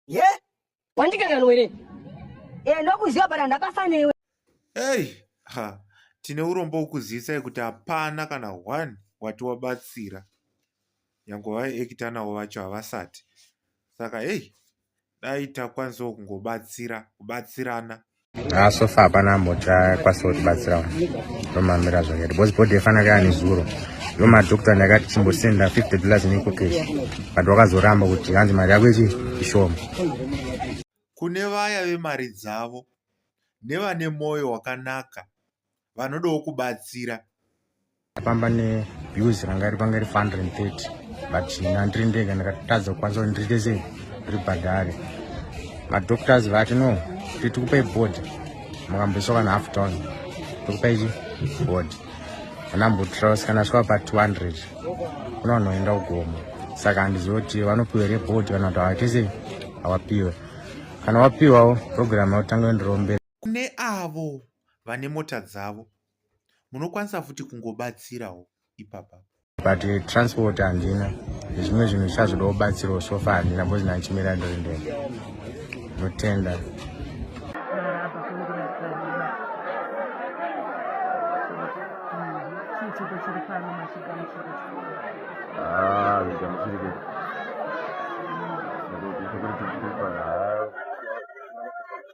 ye yeah. wandikanganwa here e ndokuziva but handakasa newe ei ha tine urombo ukuzivisa kuti hapana kana one wati wabatsira nyange vaekita navo vacho havasati saka ei dai takwanisawo kungobatsira kubatsirana Ah, so far hapana ambochakwanisa kutibatsira romamira zvakati because body yefana kaya nezuro yo madokta ndakati chimbosenda 50 dollars nekokesh but wakazoramba kuti hanzi mari yako ichi ishoma kune vaya vemari dzavo nevane mwoyo wakanaka vanodawo kubatsira famba nebus ranga ripanga ri 530 but ina ndiri ndega ndakatadza kukwanisa kuti ndiite sei ribhadhare madoctors vati no titikupai board makamboiswa kana half down tikupai chi board anambotros kana svika pa 200 kuna vanoenda kugoma saka handizivi kuti vanopiwa here board kana kuti havaite sei havapiwe kana wapiwawo program yautanga yondirombera kune avo vane mota dzavo munokwanisa futi kungobatsirawo ipapa but eh, transport handina zvimwe zvinhu zvichazoda kubatsirawo sofa handina bcoz ndanchimira ndori ndende ndotenda Ah, lo llamo así de que... Pero yo creo que es para...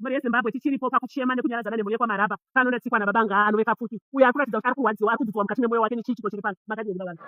mhuri yezimbabwe tichiripo pakuchema nekunyaradzana nemhuri yekwamaraba pano ndatsikwa nababa ngaa anove kapfuti uyo ari kuratidza kuti ari kurwadziwa ari kudzidzwa mukati memwoyo wake nechii chiko chiri pano makadii baba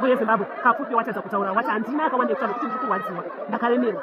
Voye Zimbabwe, kafupi watadza kutaura wati handina akawanda ekutaura kuti ndiri kurwadziwa ndakaremerwa.